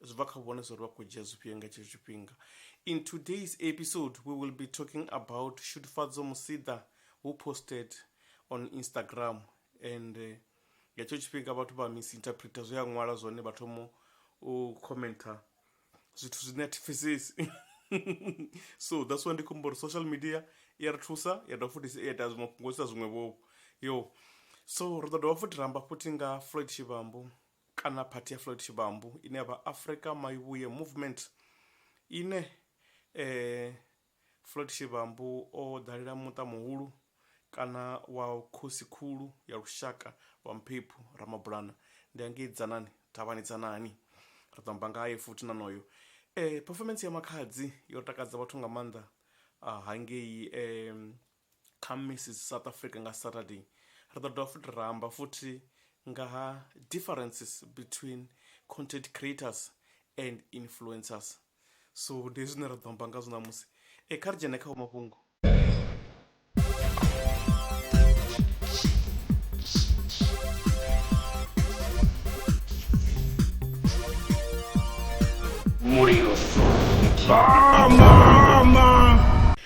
zwi bva kha vhone zwa uri vha khou dzhia zwifhio nga tshetsho tshifhinga in today's episode we will be talking about shudufhadzo musiḓa who posted on instagram and eh, nga tshetsho tshifhinga vhathu vha misinterpreter zwe a ṅwala zwone vha thomo u commenter zwithu zwine a thi pfesesi so that's why ndi khombo uri social media i ya ri thusa ya dovha futhi ya ita zwiṅwe fhungo isa zwiṅwe vhovho yo so ri ḓo dovha futhi ramba futhi nga floyd tshivhambo kana phathi ya Floyd Shivambu ine ya vha Afrika Maivhuye Movement ine Floyd Shivambu o dalela muṱa muhulu kana wa khosi khulu ya lushaka wa Mphephu Ramabulana ndi hangei Dzanani Thavhani Dzanani ri ḓo amba ngaye futhi na noyo performance ya Makhadzi yo takadza vhathu nga maanḓa hangei Kha Mrs South Africa nga Saturday, ri ḓo dovha futhi ra amba futhi nga ha differences between content creators and influencers. So ndi zwine ra ḓo amba nga zwo ṋamusi. E kha ri dzhene kha mafhungo. Mulilo. Mama!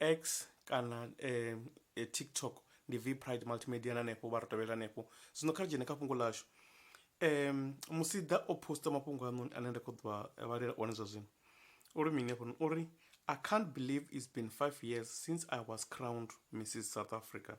X kana TikTok ndi V Pride Multimedia na hanefho vha ri tovhela hanefho zwino kha ri dzhene kha fhungo ḽashu Musida o poster mafhungo haṋoni ane nda kho ḓo a vhalela one zwa zwino uri mini hafhanoni uri I can't believe it's been five years since I was crowned Missus South Africa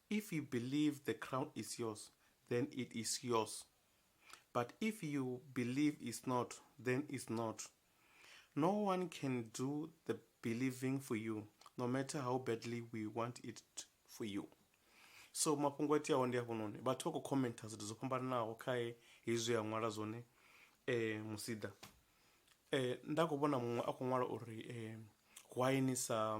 If you believe the crown is yours, then it is yours. But if you believe it's not, then it's not. No one can do the believing for you, no matter how badly we want it for you. so mafhungo iteaho ndi afhononi vhathu vha khou commenta zwithu zwo fhambananaho khae hezwi a ṅwala zwone um musida um nda khou vhona muṅwe a khou ṅwala uri um why ni sa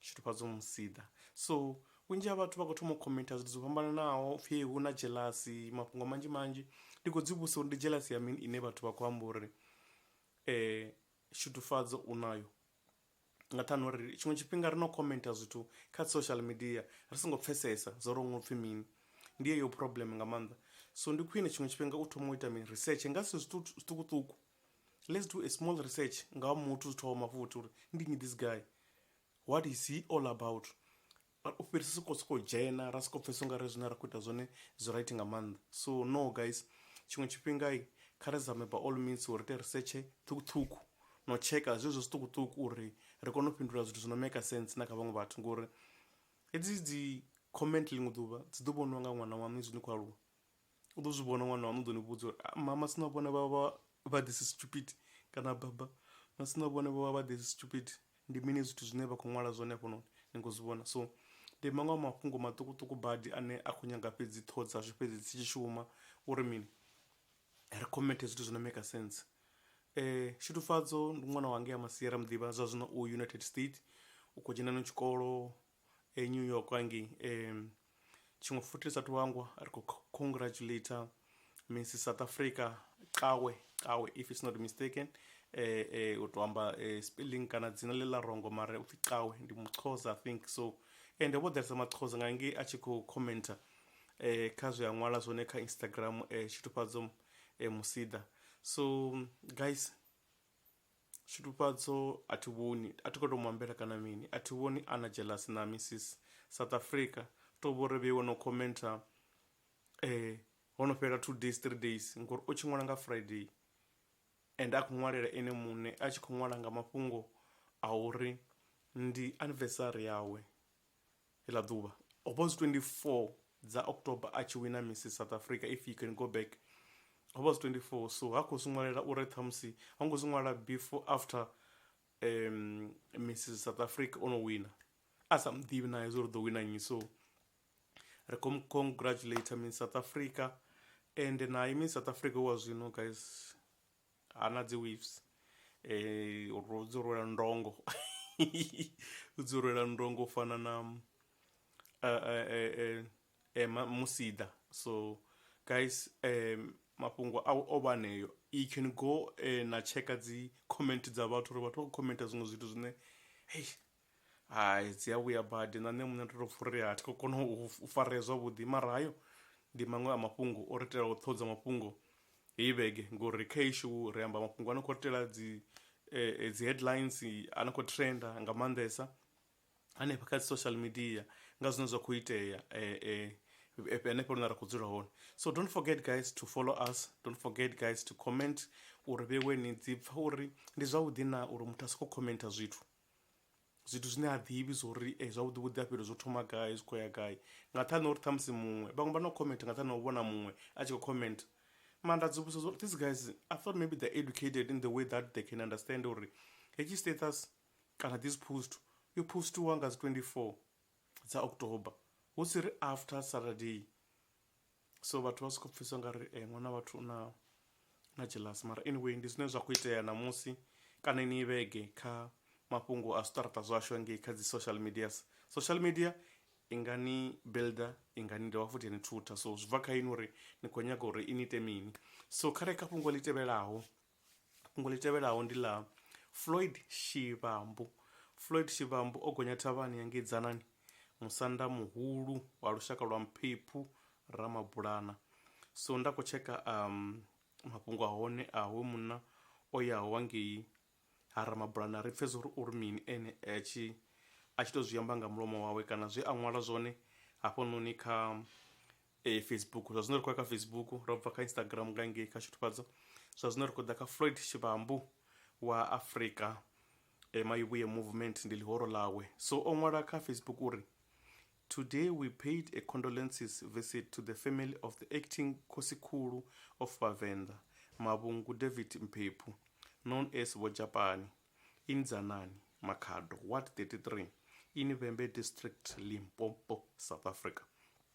tshitufhadzo musiḓa so vhunzhi ha vhathu vha khou thoma u khomentha zwithu zwo fhambananaho pfhi hu na jealasi mafhungo manzhi manzhi ndi khou dzi vhusa uri ndi jealasi ya mini ine vhathu vha khou amba uri um tshitufhadzo u nayo nga ṱhani uri tshiṅwe tshifhinga ri no khomentha zwithu kha social media ri songo pfhesesa zwo uri unga upfhi mini ndi yeyo problem nga maanḓa so ndi khwine tshiṅwe tshifhinga u thoma u ita mini research nga zwithu zwiṱukuṱuku let's do a small research nga ha muthu zwithu wa mafuthi uri ndi nyi this guy what is he all about u fhirisa soko soko dzhena ra soko pfhesa ungari zwine ra khou ita zwone zwi right nga maanḓa so no guys tshiṅwe tshifhinga kha ri zame by all means uri ite research ṱhukhuṱhukhu no tsheka zwezwo zwiṱukuṱuku uri ri kone u fhindula zwithu zwi no maker sense na kha vhaṅwe vhathu ngori hedzi dzi comment ḽiṅwe ḓuvha dzi ḓo vhoniwa nga ṅwana waṋu izwi ni khou aluwa u ḓo zwi vhona ṅwana waṋu u ḓo ni vhudza uri ah, mama sina vhone vha vha vha this is stupid kana baba masina vhone vha vha vha this is stupid ndi mini zwithu zwine vha khou ṅwala zwone hafhanoni ni khou zwi vhona so ndi maṅwe a mafhungo maṱukuṱuku badi ane a khou nyaga fhedzi ṱhoho dzashu fhedzi dzi tshi shuma uri mini ri commente zwithu zwi no maker sense eh shuthufadzo ndi ṅwana wange ya masiera muḓivha zwa zwino u united state u khou dzhena no tshikolo e New York hangei um tshiṅwe futhi ndi sathu hangwa ri kho congratulator Miss South Africa Cawe Cawe if it's not mistaken um u to amba spelling kana dzina ḽe ḽa rongo mara upfhi Cawe ndi muxhosa I think so ende vho ḓalesa maxhosa nga ngei a tshi khou commenter um kha zwe a ṅwala zwone kha Instagram um tshitufhadzo musida so guys Tshitufhadzo a thi vhoni a thi kho to mu ambela kana mini a thi vhoni a na jealous na missis South Africa to vhori vhe wo no commenter ho no fhela two days three days ngori u tshi ṅwala nga Friday ende a kho ṅwalela ene muṋe a tshi kho ṅwala nga mafhungo a uri ndi anivesari yawe Iḽa ḓuvha, ho vha hu si 24 dza October a tshi wina Miss South Africa, If You Can Go Back. Ho vha hu si 24, so ha khou zwi ṅwalela uri ṱhamusi ho ngo zwi ṅwala before, after Miss South Africa o no wina. A sa mu ḓivhi na ye zwo uri u ḓo wina nnyi, so ri khou mu congratulator Miss South Africa, ende naye Miss South Africa wa zwino guys. ha na dzi waves eh ro dzi rwela ndongo u dzi rwela ndongo u fana na eh eh eh, eh, eh ma- musida so guys um mafhungo a o vha aneyo you can go eh, na checka dzi comment dza vhathu uri vhathu vha khou commenta zwiṅwe zwithu zwine hey hai dzi a vhuya badi na nṋe muṋe ndo to pfha uri a thi khou kona u farea zwavhuḓi mara hayo ndi maṅwe a mafhungo o ri itela u ṱhodza mafhungo heyi vhege ngori kha heyi show ri amba mafhungo a no khou ri itela dzi dzi headlines a no khou trenda nga maanḓesa hanefha kha dzi social media nga zwine zwa kho itea hanefho hune ra kho dzula hone so don't forget guys to follow us don't forget guys to comment uri vhewe ni dzi pfha uri ndi zwavhuḓi na uri muthu a soko commenter zwithu zwithu zwine ha ḓivhi zwo ri e zwavhuḓi vhuḓi a fhiri zwo thoma gai zwi khou ya gai nga nṱhani uri ṱhamusi muṅwe vhaṅwe vha no comment nga nṱhani ha u vhona muṅwe a tshi khou comment mara nda dzi vhudzisa zwa uri these guys I thought maybe they're educated in the way that they can understand uri hetshi status kana this post yo postiwa nga dzi 24 dza October hu si ri after Saturday. so vhathu vha soko pfhisa nga ri ṅwana vhathu u na na jealous mara anyway ndi zwine zwa kho itea ṋamusi kana yeneyi vhege kha mafhungo a zwiṱaraṱa zwashu hangei kha dzi social medias social media i nga ni builder i nga ni dovha futhi ya ni thutha so zwi bva kha inwi uri ni khou nyaga uri i ni ite mini so kha re kha fhungo ḽi tevhelaho Fhungo ḽi tevhelaho ndi ḽa Floyd Shivhambu. Floyd Shivhambu o gonya thavhani ya ngei Dzanani, musanda muhulu wa lushaka lwa Mphephu Ramabulana. So nda khou tsheka mafhungo a hone a hoyu munna o yaho wa ngei ha Ramabulana ri pfhe zwa uri uri mini ene a tshi a tshi to zwi amba nga mulomo wawe kana zwe a ṅwala zwone hafhanoni kha e, facebook zwa zwino ri khou ya kha facebook ro bva kha instagram nga ngei kha shutufhadzo zwa zwino ri khou ḓa kha floyd tshivhambu wa afrika e, mayuvhuye movement ndi ḽihoro ḽawe so o ṅwala kha facebook uri Today we paid a condolences visit to the family of the acting Khosikhulu of Vavenda, Mavhungu David Mphephu, known as Vojapani, in Dzanani, Makhado, Ward 33, in Vhembe District, Limpopo, South Africa.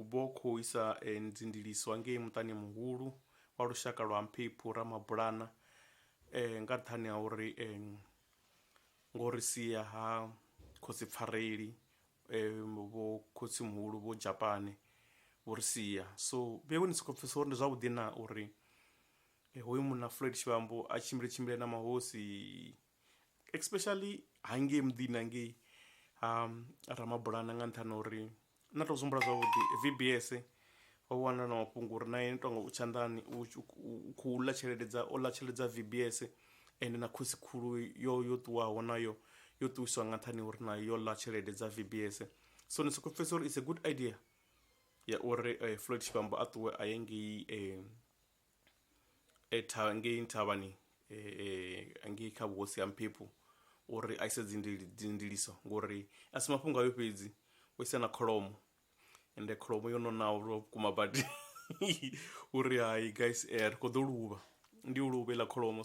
U bva u khou isa nzindiliswa ngei muṱani muhulu wa lushaka lwa Mphephu Ramabulana nga nṱhani ha uri ngo ri sia ha Khosi Pfareli vho Khotsimuhulu vho Dzhapane vho ri sia. So vheiwe ni sokou pfhesesa uri ndi zwavhuḓi na uri hoyu munna Floyd Shivhambu a tshimbile tshimbile na mahosi especially hangei muḓini hangei ha ramabulana nga nṱhani uri na to zwihumbula zwavhuḓi vbs ho wana na mafhungo uri nae tonga u tshanḓani u khou ḽa tshelede dza ola tshelede dza vbs ende na khosi khulu yo yo ṱuwaho nayo yo ṱuwiswa nga nṱhani uri nayo yo ḽa tshelede dza vbs so ni soko pfhesesa uri it's a good idea ya uri floyd tshivhambo a ṱuwe a ye ngei e tha ngei nthavhani e, e, ngei kha vhuhosi ha mphephu uri a ise dzindili dzindiliso ngori a si mafhungo ayo fhedzi o isa na kholomo ende kholomo yo nonaho lwa vhukuma badi uri hai guys eh, ri khou ḓo luvha ndi yo luvha iḽa kholomo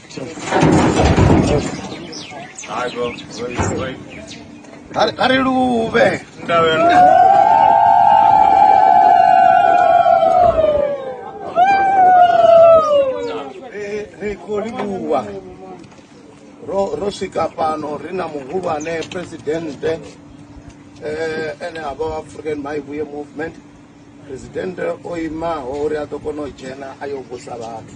a ri luvhe ri khou livhuwa ro ro swika fhano ri na muhulwane presidente eh, ene a vha wa african maivuye movement presidente o imaho uri a ḓo kona u dzhena a yo vhusa vhathu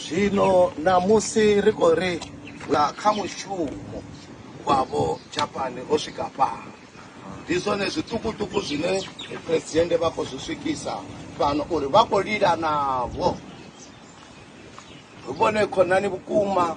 zwino ṋamusi ri khou ri nga kha mushumo wavho japani o swika fhano ndi zwone zwiṱukuṱuku zwine presidente vha khou zwi swikisa fhano uri vha khou lila navho ri vhone khonani vhukuma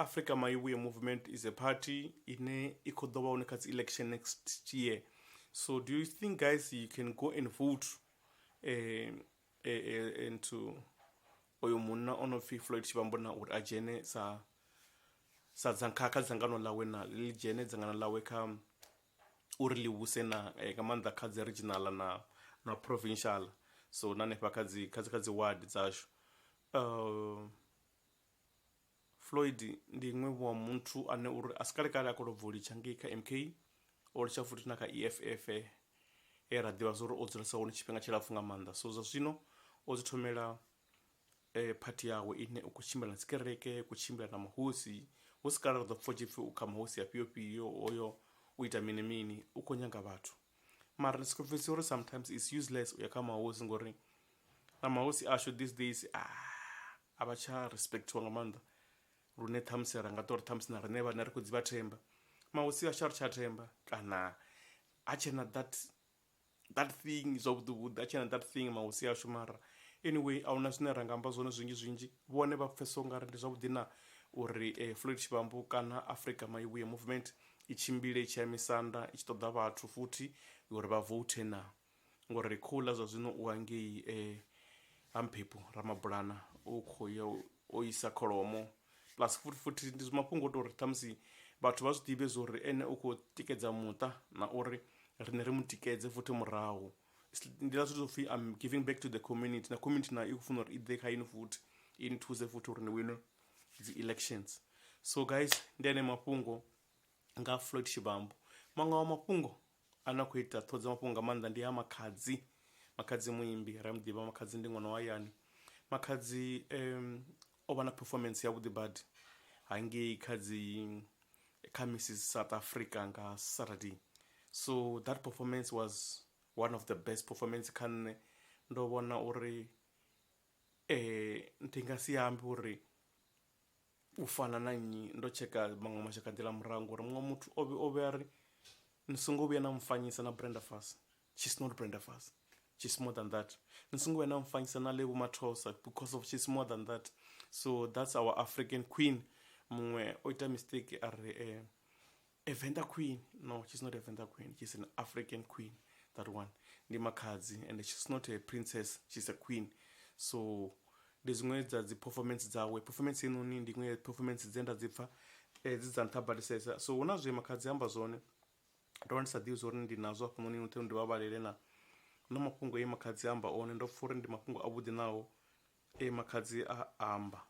Africa Maibuye Movement is a party ine i khou ḓo vha hone kha dzi election next year so do you think guys you can go and vote eh, eh, eh, and to oyo munna o no pfi floyd tshivhambo na uri a dzhene sa sa dzangkha kha dzangano ḽawe na ḽi dzhene dzangano ḽawe kha uri ḽi vhuse na eh, nga maanḓa kha dzi regional na na provincial so na hanefha kha dzi kha dzi kha dzi ward dzashu uh, Floyd ndi iṅwe vho muthu ane uri a si kale kale a khou lobva u litsha ngei kha MK, o litsha futhi na kha EFF he ra ḓivha zwa uri o dzulesa hone tshifhinga tshilapfu nga maanḓa. So zwa zwino o dzi thomela phathi yawe ine u khou tshimbila na dzi kereke, u khou tshimbila na mahosi, hu si kale ra ḓo pfa hu tshi pfi u kha mahosi afhio fhio, hoyo u ita mini mini, u khou nyanga vhathu. Mara ndi soko pfhesesa uri sometimes it's useless uya kha mahosi ngori na mahosi ashu these days . a vha tsha respectiwa nga maanḓa lune ṱhamusi ra nga ṱori ṱhamusi na riṋe vhane ri khou dzi vha themba mahosi a sha ri tsha themba kana ha tshena that that thing zwavhuḓi vhuḓi a tshena that thing mahosi ashu mara anyway a huna zwine ra nga amba zwone zwinzhi zwinzhi vhone vha pfhesesa ungari ndi zwavhuḓi na uri eh, Floyd Tshivhambu kana Africa Maivhuye Movement i tshimbile i tshi ya misanda i tshi ṱoḓa vhathu futhi uri vha vote na Ngori ri khou ḽa zwa zwino u hangei Ha Mphephu, Ramabulana u khou ya o isa kholomo plus futhi futhi ndi mafhungo o tou ri ṱhamusi vhathu vha zwi ḓivhe zwa uri ene u khou tikedza muṱa na uri riṋe ri mu tikedze futhi murahu. Ndi ḽa zwithu zwo pfhi am giving back to the community na community nayo i khou funa uri i ḓe kha inwi futhi i ni thuse futhi uri ni wine dzi elections. So guys ndi eneo mafhungo nga Floyd Shivambu, maṅwe a mafhungo Ane a khou ita ṱhoho dza mafhungo nga maanḓa ndi a Makhadzi. Makhadzi muimbi, ri a mu ḓivha. Makhadzi ndi ṅwana wa hayani. Makhadzi o vha na performance yavhuḓi badi hangei kha dzi kha Missus South Africa nga Saturday. So that performance was one of the best performance kha nṋe. Ndo vhona uri ndi nga si ambe uri U fana na nnyi? Ndo tsheka maṅwe mashaka a nḓila murahu ngori muṅwe muthu o vhe, o vhe a ri, Ni songo vhuya na mfanyisa na Brenda Fassie. She's not Brenda Fassie. She's more than that. Ni songo vhuya na mfanyisa na Lebo Mathosa because of she's more than that. So that's our African Queen. Muṅwe o ita mistake a ri, a Venda queen no she's not a Venda queen she's an African queen that one ndi makhadzi and she's not a princess she's a queen so ndi zwiṅwe dza dzi performance dzawe performance inoni ndi iṅwe performance dze nda dzi pfa eh, dzi dza nṱha badisesa so hu na zwe makhadzi amba zwone ndo vha ndi sa ḓivhi zwori ndi nazwo hafhanoni nothe ndi vha vhalele na na mafhungo e makhadzi amba one ndo pfa uri ndi mafhungo avhuḓi naho e makhadzi a amba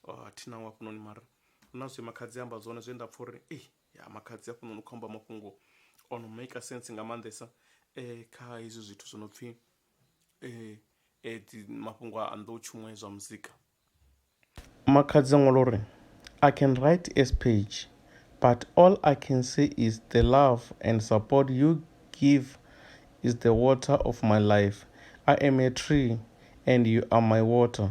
Oh, a thina wa hafhanoni mara hu na zwe makhadzi amba zwone zwe nda pfha uri ei ya makhadzi hafhanoni u khou amba mafhungo o no maker sense nga maanḓesa um kha hezwi zwithu zwo no pfhi um dzi mafhungo a nḓowetshumo ya zwa muzika makhadzi a ṅwala uri i can write as page but all i can say is the love and support you give is the water of my life i am a tree and you are my water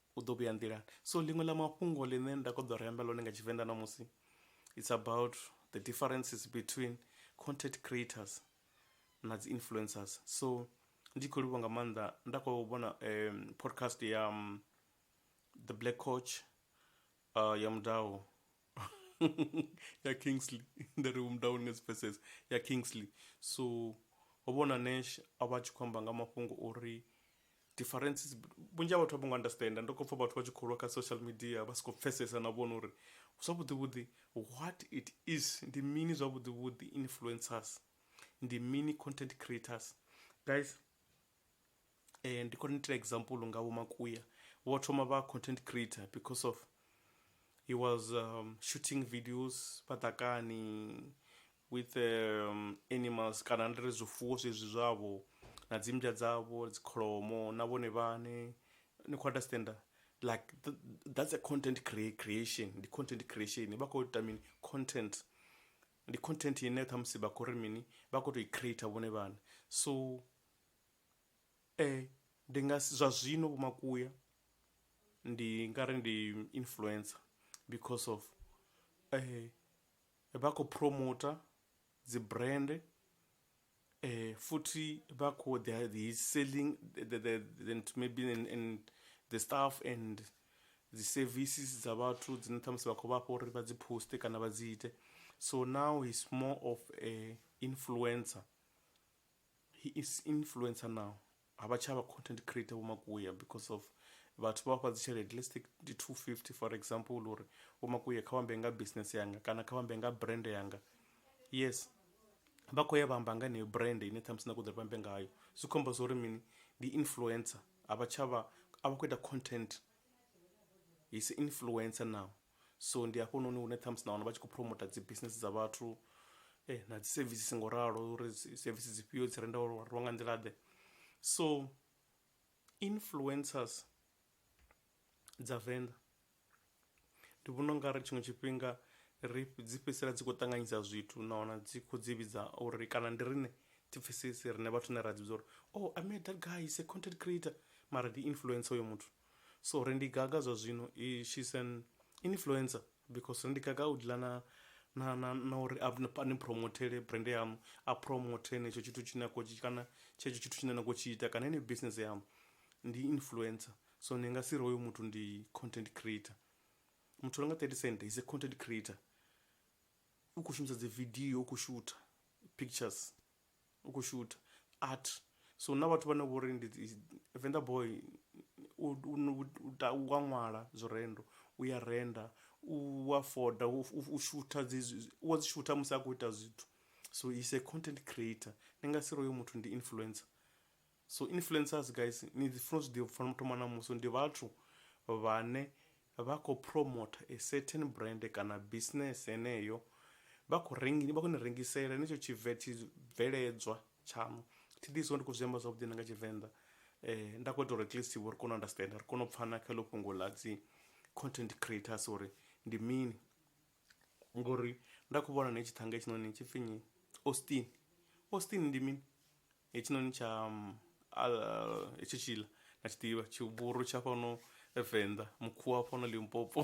u ḓo vhuya nḓilani so ḽiṅwe ḽa mafhungo ḽine nda kho ḓo ri amba ḽone nga tshivenḓa ṋamusi it's about the differences between content creators na dzi influencers so ndi khou livhuwa nga maanḓa nda khou vhona um, podcast ya um, the black coach uh, ya mudau ya kingsley nda ri umdown nga dzi pfesesa ya kingsley so ho vhona nash a vha a tshi khou amba nga mafhungo o ri differences vhunzhi ha vhathu a vho ngo understanda ndo khou pfa vhathu vha tshi khou lwa kha social media vha si khou pfesesa na vhona uri zwavhuḓi vhuḓi what it is ndi mini zwavhuḓi vhuḓi influencers ndi mini content creators guys eh, ndi khou ni itela example nga vho makuya vho thoma vha content creator because of he was um, shooting videos patakani with um, animals kana ndiri zwifuwo zwezwi zwavho na dzimbya dzavho dzikholomo na vhone vhane ni khou understanda like th that's a content crea creation ndi content creation vha khou ita mini content ndi content ine khamusi vha khou ri mini vha khou tou i creator vhone vhane so Ndi nga si, zwa zwino Vho Makuya ndi nga ri ndi influencer because of vha khou promoter dzi brand, futhi vha kho ḓi ha ḓi selling the the the nthu maybe and the stuff and dzi services dza vhathu dzine ṱhamusi vha khou vhafha uri vha dzi poster kana vha dzi ite. So now he's more of a influencer He is influencer now ha vha tsha vha content creator vho makuya because of vhathu vha vha fha dzi tshelede let's take ndi 250 for example uri vho makuya kha vhambe nga business yanga kana kha vhambe nga brand yanga yes vha khou ya vha amba nga heneyo brand ine ṱhamusi na kho ḓo ri vhambe ngayo zwi khomba zwa uri mini ndi influencer a vha tsha vha a vha khou ita content he is influencer now so ndi hafhanoni hune ṱhamusi na wana vha tshi khou promoter dzi business dza vhathu na dzi services ngo ralo uri services dzi fhio dzi renda uri rwa nga nḓila ḓe so influencers dza venḓa ndi vhona unga ri tshiṅwe tshifhinga ri dzi fhedzisela dzi khou ṱanganyisa zwithu na wana dzi khou dzi vhidza uri kana ndi riṋe thi pfhesesi riṋe vhathu ne ra dzi vhidza uri oh I met that guy is a content creator mara ndi influencer hoyo muthu so ri ndi gaga zwa zwino i she's an influencer because ri ndi gaga u dealer na na na na uri a ni promothele brand yaṋu a promote henetsho tshithu tshine a khou tshi kana tshetsho tshithu tshine na khou tshi ita kana heneyo business yaṋu ndi influencer so ni nga si ri hoyo muthu ndi content creator muthu a no nga thirty cent is a content creator u khou shumisa dzi video u khou shutha pictures. u kho shutha art so huna vhathu vhane vhori ndi dzi Venḓa boy u wa ṅwala zwi rendo u ya renda u wa foda u shutha dzi u wa dzi shutha musi a khou ita zwithu so is a content creator ndi nga si ri hoyo muthu ndi influencer. So influencers guys ni funa zwi ḓivha funa thoma na musi ndi vhathu vhane vha kho promoter a certain brand kana business heneyo vha kho rengi vha kho ni rengisela ni tsho tshi vet bveledzwa tshaṋu thi ḓi so ndi kho zwi amba zwavhuḓi na nga tshivenḓa eh nda kho ita uri at least vho ri kone u understand ri kone u pfana kha ḽo fhungo ḽa dzi content creators uri ndi mini ngori nda kho vhona na tshi thanga hetshinoni tshipfhi nyi Austin Austin ndi mini Hetshinoni tsha hetsho tshiḽa na tshi ḓivha tshivhuru tsha fhano venḓa mukhuwa wa fhano limpopo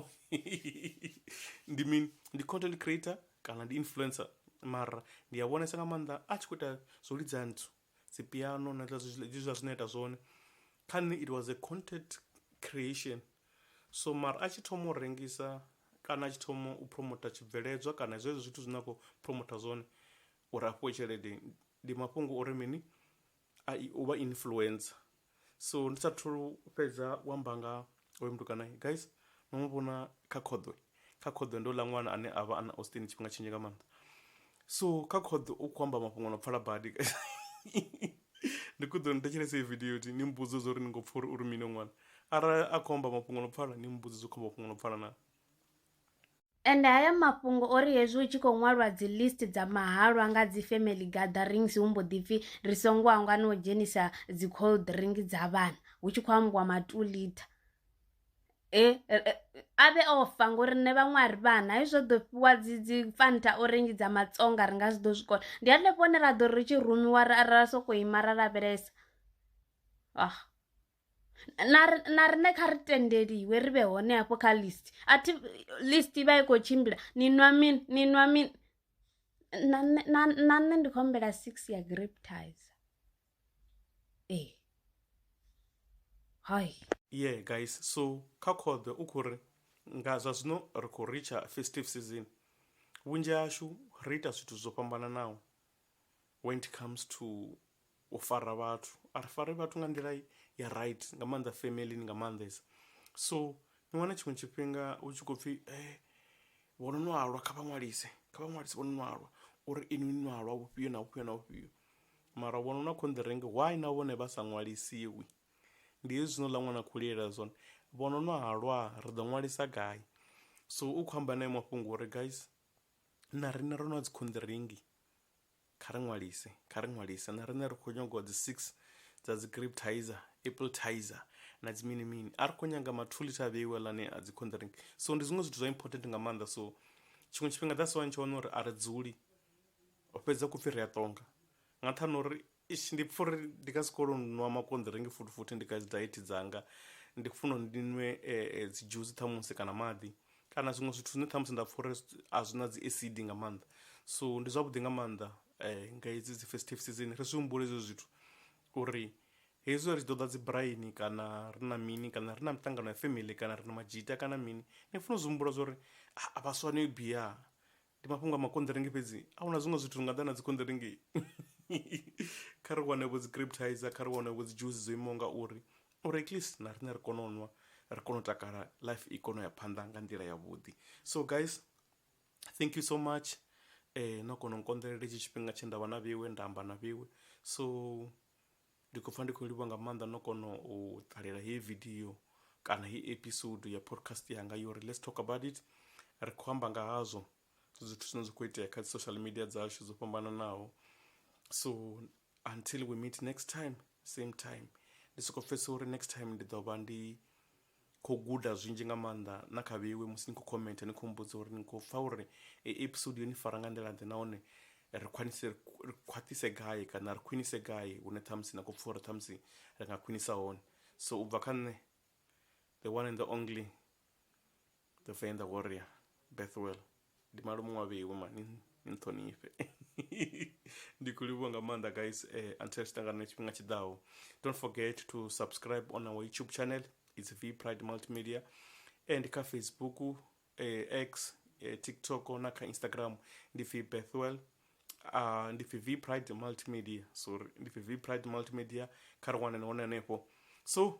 ndi mini ndi content creator kana ndi influencer mara ndi a vhonesa nga maanḓa a tshi kho ita zwo lidza nthu dzi piano na hezwiḽa zwine a ita zwone kha nṋe it was a content creation so mara a tshi thoma u rengisa kana a tshi thoma u phuromotha tshibveledzwa kana zwezwo zwithu zwine a khou phuromotha zwone Uri a fhiwe tshelede ndi mafhungo uri mini a i uvha influencer so ndi sa thu fhedza u amba nga hoyo mutukana guys no mu vhona kha khoḓwe kha khoḓwe ndi houḽa ṅwana ane avha ana Austin tshifhinga tshinzhi nga maanḓa so kha khoḓi u kho amba mafhungo no pfala badi ndi kho ḓo ni thetshelesa heyi video uri ni mbudze zwa uri ni kho pfha uri uri mini ṅwana arali a kho amba mafhungo no pfala ni mbudze zwo kho mafhungo no pfala na. Ende haya mafhungo o ri hezwi hu tshi khou ṅwalwa dzi list dza mahalwa nga dzi family gatherings hu mbo ḓi pfhi ri songo hangwa na u dzhenisa dzi cold drink dza vhana hu tshi khou ambiwa ma two liter. A vhe o fa ngori riṋe vhaṅwe a ri vhana hezwi ro ḓo fhiwa dzi dzi fanta orange dza matsonga ri nga si ḓo zwi kona, ndi hanefho hune ra ḓo ri ri tshi rumiwa ra ra soko ima ra lavhelesa . na ri- na riṋe kha ri tendeliwe ri vhe hone hafho kha list a thi list i vha i khou tshimbila ni nwa mini ni nwa mini na nṋe- na na nṋe ndi khou humbela six ya grape tizer ee hai yeah guys so kha khoḓwe u khou ri nga zwa zwino ri khou ritsha festive season vhunzhi hashu ri ita zwithu zwo fhambananaho when it comes to u fara vhathu a ri fare vhathu nga nḓila ya right nga maanḓa family nga maanḓesa so ni wana tshiṅwe tshifhinga hu tshi khou pfhi eh vho no nwalwa kha vha ṅwalise kha vha ṅwalise vho no nwalwa uri inwi ni nwalwa vhufhio na vhufhio na vhufhio mara vhono na khonḓirenge why na vhone vha sa ṅwalisiwi ndi hezwino ḽa ṅwana khou lilela zwone vhono no halwa ri ḓo ṅwalisa gai so u khou amba naye mafhungo uri guys na riṋe ro no dzikhonḓiringi Kha ri ṅwalise, kha ri ṅwalise. Na riṋe ri khou nyagwa dzi six dza dzi grape tizer, apple tizer na dzi mini mini. A ri khou nyaga ma two litre a vheiwe lane a dzi contaring. So ndi zwiṅwe zwithu zwa important nga maanḓa so tshiṅwe tshifhinga that's why ni tshi wana uri a ri dzuli u fhedza khou pfhi ri a ṱonga nga nṱhani ha uri eish ndi pfha uri ndi nga si kone u nwa makonḓiringi futhi futhi ndi kha dzi diet dzanga ndi khou funa uri ndi nwe dzi dzhusi ṱhamusi kana maḓi kana zwiṅwe zwithu zwine ṱhamusi nda pfha uri a zwi na dzi acid nga maanḓa so ndi zwavhuḓi nga maanḓa um nga hedzi dzi festive season ri zwi humbule hezwo zwithu uri hezwi ri tshi ḓo ḓa dzi braini kana ri na mini kana ri na miṱangano ya family kana ri na madzhita kana mini ni funa u zwi humbula zwa uri a vhaswa no i bia Ndi mafhungo a makonḓiringi fhedzi? A hu na zwiṅwe zwithu zwi nga ḓa na dzikonḓiringi? Kha ri wane-vho dzi-grape tizer, kha ri wane-vho dzi dzhusi dzo imaho nga uri, uri at least na riṋe ri kone u nwa, ri kone u takala, life i kone u ya phanḓa nga nḓila ya vhuḓi. So guys, thank you so much no kona u nkonḓelela hetshi tshifhinga tshe nda vha na vheiwe, nda amba na vheiwe. So. Ndi khou pfa ndi khou livhuwa nga maanḓa no kona u ṱalela heyi vidio kana heyi episode ya podcast yanga yo ri let's talk about it ri khou amba nga hazwo zwithu zwine zwa khou itea kha dzi social media dzashu dzo fhambananaho so until we meet next time same time ndi soko pfhesesa uri next time ndi ḓo vha ndi Kho guda zwinzhi nga maanḓa na kha vheiwe musi ni kho comment ni kho mmbudza uri ni kho pfha uri eyi episode yo ni fara nga nḓila ḓe nahone ri khwaṱhise ri khwaṱhise gai kana ri khwinise gai hune ṱhamusi na kho pfha uri ṱhamusi ri nga khwinisa hone so ubva kha nṋe the one and the only The Venḓa Warrior Bethwell ndi malume wa vheiwe mani ni nṱhonifhe ndi khou livhuwa nga maanḓa guys eh, until ri tshi ṱangana na tshifhinga tshiḓaho don't forget to subscribe on our youtube channel it's v pride multimedia and kha facebook eh, x eh, tiktok na kha instagram ndi pfi bethwell uh, ndi pfi v pride multimedia sorry ndi pfi v pride multimedia kha ri wanane hone hanefho so